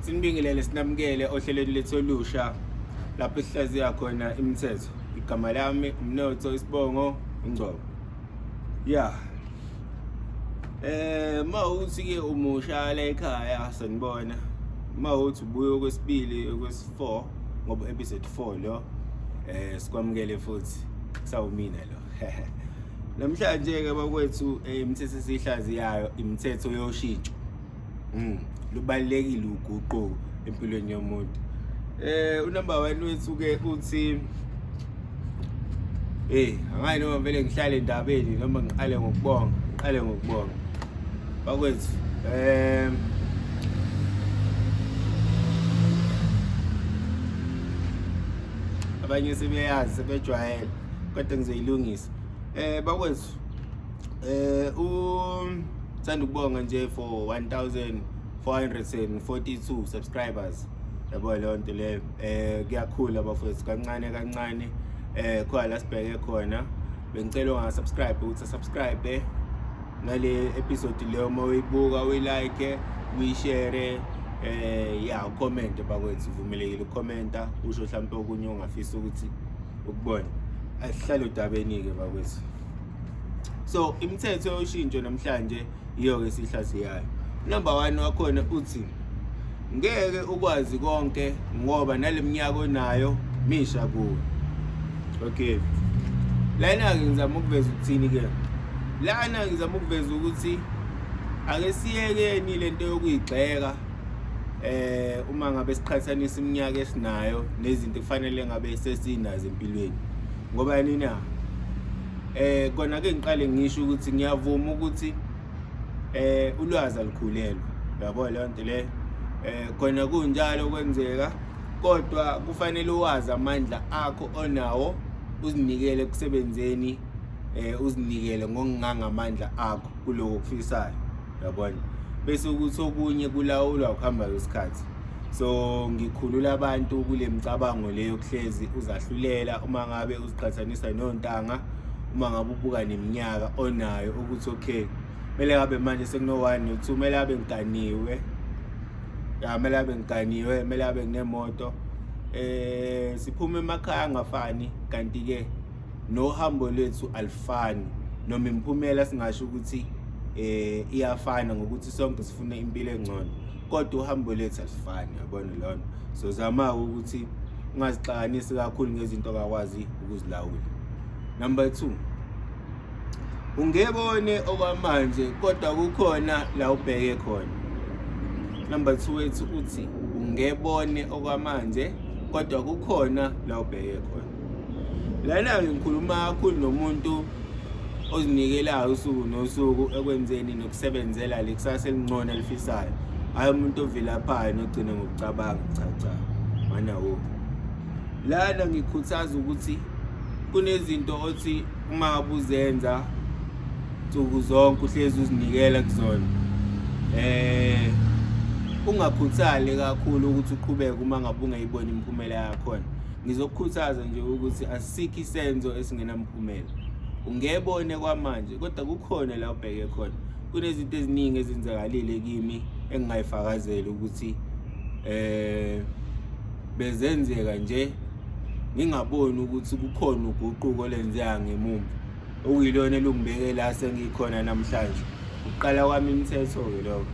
sinibingelele sinamukele ohlelweni lethu olusha lapho sihlaziya khona imithetho igama lami umnotho isibongo ingcobo ya eh ma uthi ke umusha la ekhaya sanibona ma uthi ubuye okwesibili okwesi4 ngoba episode 4 lo eh sikwamukele futhi sawumina lo Namhlanje-ke bakwethu eh, imithetho esiyihlaziyayo imithetho yoshintsho mm. lubalulekile uguquko empilweni yomuntu eh unumber 1 wethu ke uthi eh angayi noma vele ngihlale endabeni noma ngiqale ngokubonga ngiqale ngokubonga bakwethu eh abanye sebeyazi sebejwayele kade ngizoyilungisa eh bakwethu eh u sithanda ukubonga nje for 1442 subscribers yabo leyo nto leyo eh kuyakhula bafowethu kancane kancane eh khona la sibheke khona bengicela ungasubscribe ukuthi subscribe nale episode leyo uma uyibuka uyilike uyishare eh ya ucomment bakwethu uvumelekile ucomenta usho mhlawumbe okunye ongafisa ukuthi ukubona asihlale udabeni-ke bakwethu so imithetho yoshintsho namhlanje yiyo-ke sihlase yayo number one wakhona uthi ngeke ukwazi konke ngoba nale minyaka onayo misha kuwe okay lana-ke ngizama ukuveza ukuthini-ke lana ngizama ukuveza ukuthi ake siyekeni le nto yokuyigxeka eh uma ngabe siqhathanisa iminyaka esinayo nezinto kufanele ngabe sesinazo empilweni ngoba yini na eh kona ke ngiqale ngisho ukuthi ngiyavuma ukuthi eh ulwazi alikhulelwa yabo le nto le eh kona kunjalo kwenzeka kodwa kufanele uwazi amandla akho onawo uzinikele kusebenzeni eh uzinikele ngokungangamandla akho kuloko kufisayo yabona bese ukuthi okunye kulawulwa ukuhamba kwesikhathi so ngikhulula abantu kule micabango leyo kuhlezi uzahlulela uma ngabe uziqhathanisa nontanga uma ngabe ubuka neminyaka onayo ukuthi okay kumele ngabe manje sekuno-one no-two kumele abe ngiganiwe ya kumele abe ngiganiwe kumele abe nginemoto um eh, siphume emakhaya angafani kanti-ke nohambo lwethu alifani noma imiphumela singasho ukuthi eh iyafana ngokuthi sonke sifuna impilo engcono kodwa uhambo lethu alifani yabona lona so zama ukuthi ungazixakanisi kakhulu ngezinto akakwazi ukuzilawula number 2 ungebone okwamanje kodwa kukhona la ubheke khona number 2 wethu uthi ungebone okwamanje kodwa kukhona la ubheke khona lana-ke ngikhuluma kakhulu nomuntu ozinikelayo usuku nosuku ekwenzeni nokusebenzela le kusasa elingcono elifisayo hhayi umuntu ovilaphayo nogcina ngokucabanga cha cha mana wo lana ngikhuthaza ukuthi kunezinto othi uma ubuzenza nsuku zonke uhlezi uzinikela kuzona eh ungakhuthali kakhulu ukuthi uqhubeke uma ngabe ungayiboni imiphumela yakhona Ngizokukhuthaza nje ukuthi asikho isenzo esingenamphumela. Ungebone kwamanje kodwa kukhona la ubheke khona. Kunezinto eziningi ezenzakalile kimi engingayifakazeli ukuthi eh bezenzeka nje ngingaboni ukuthi kukhona uguquko lenzeka ngemumva. okuyilona elungibeke la sengikhona namhlanje ukuqala kwami imithetho ke lokho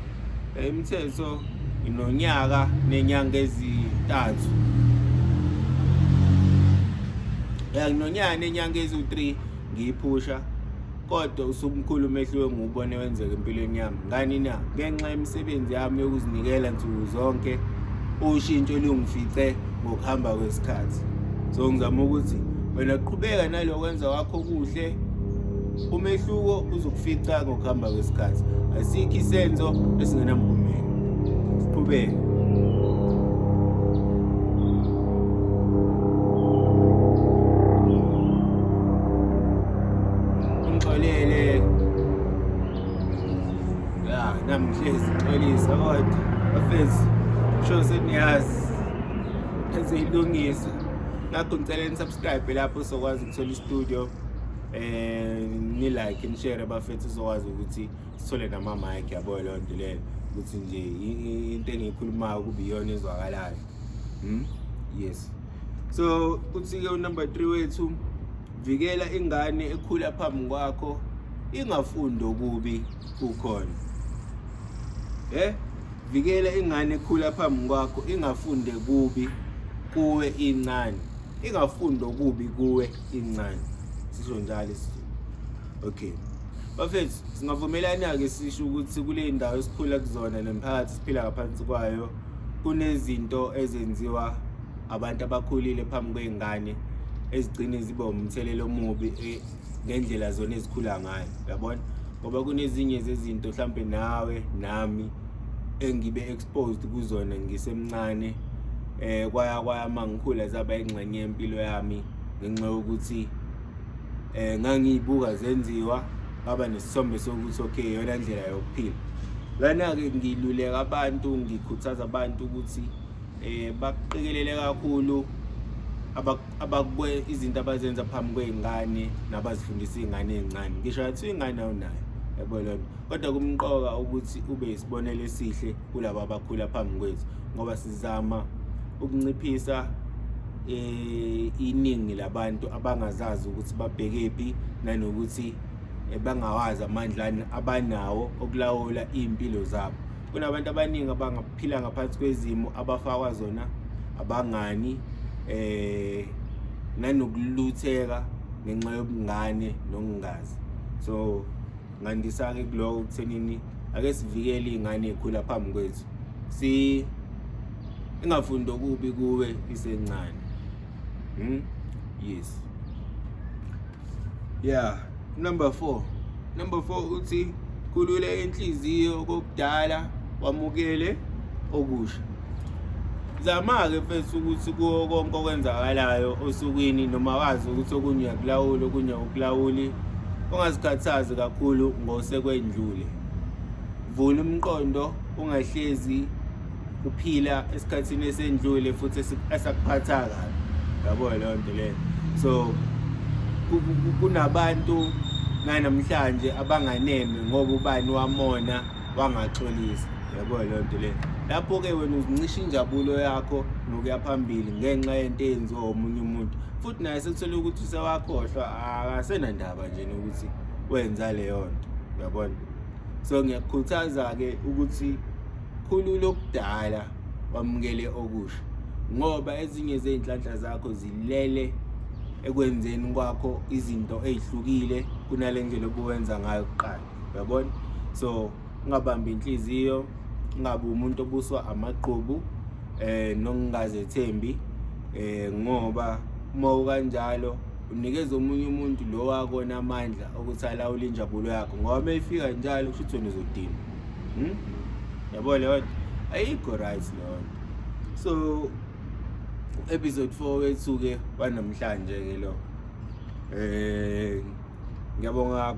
imithetho inonyaka nenyanga ezintathu yanginonyaka nenyanga eziwu-3 ngiyiphusha kodwa usumkhulu umehluko engiwubone wenzeka empilweni yami Ngani na ngenxa yemisebenzi yami yokuzinikela nsuku zonke ushintsho lungifice ngokuhamba kwesikhathi so ngizama ukuthi wena qhubeka nalokwenza wakho kuhle umehluko uzokufica ngokuhamba kwesikhathi asikho isenzo esingenamphumela siqhubeke ya namhlezi xolisa kodwa bafezi sho seniyazi eziyilungisa ngakho ngicela nisubscribe lapho sokwazi ukuthola istudio eh ni like ni share bafethu uzokwazi ukuthi sithole nama mic yabo leyo nto leyo ukuthi nje into engiyikhulumayo kube iyona ezwakalayo hmm yes so uthi ke unumber 3 wethu vikela ingane ekhula phambi kwakho ingafundi okubi kukhona eh vikela ingane ekhula phambi kwakho ingafunde kubi kuwe incane ingafundi okubi kuwe incane sisho njalo isizulu okay bafethu singavumelana-ke sisho ukuthi kule ndawo esikhula kuzona nemphakathi siphila ngaphansi kwayo kunezinto ezenziwa abantu abakhulile phambi kwey'ngane ezigcine ziba umthelela omubi eh, ngendlela zona ezikhula ngayo yabona ngoba kunezinye zezinto mhlampe nawe nami engibe exposed kuzona ngisemncane eh kwaya kwaya mangikhula zaba ingxenye yempilo yami ngenxa yokuthi eh ngangiyibuka zenziwa ngaba nesithombe sokuthi okay yona ndlela yokuphila lana ke ngiluleka abantu ngikhuthaza abantu ukuthi eh baqikelele kakhulu abakwe izinto abazenza phambi kwezingane nabazifundisa izingane ezincane ngisho athi ingane awunayo yabo lonto kodwa kumqoka ukuthi ube isibonelo esihle kulabo abakhula phambi kwethu ngoba sizama ukunciphisa eh iningi labantu abangazazi ukuthi babhekephi nanokuthi eh, bangawazi amandla abanawo okulawula impilo zabo kunabantu abaningi abangaphila ngaphansi kwezimo abafakwa zona abangani eh nanokulutheka ngenxa yobungane nokungazi so ngandisa ke kuloko kuthenini ake sivikele izingane ekhula phambi kwethu si ingafundi okubi kuwe isencane hmm yes yeah number 4 number 4 uthi khulula inhliziyo kokudala wamukele okusha zama-ke fesi ukuthi kuwo konke okwenzakalayo osukwini noma wazi ukuthi okunye uyakulawula okunye awukulawuli ungazikhathazi kakhulu ngosekwendlule vula umqondo ungahlezi uphila esikhathini esendlule futhi esakuphatha kabi yabo leyo nto leyo so kunabantu nanamhlanje abanganeme ngoba ubani wamona wangaxolisa yabo leyo nto leyo lapho-ke wena uzincisha injabulo yakho nokuya phambili ngenxa yento eyenziwa omunye umuntu futhi naye sekuthole ukuthi usewakhohlwa akasenandaba nje nokuthi wenza leyo nto uyabona so ngiyakukhuthaza-ke ukuthi Khulula okudala wamukele okusha ngoba ezinye zezinhlanhla zakho zilele ekwenzeni kwakho izinto ezihlukile kunale ndlela obuwenza ngayo kuqala uyabona so ungabambi inhliziyo ungabe umuntu obuswa amagqubu eh nokungazethembi eh ngoba uma ukanjalo unikeza omunye umuntu lo wakona amandla ukuthi alawule injabulo yakho ngoba uma ifika njalo kusho ukuthi wena uzodinwa Hmm? Yabo leyo ayikho right leyo. So episode 4 wethu ke wanamhlanje ke lo. Eh ngiyabonga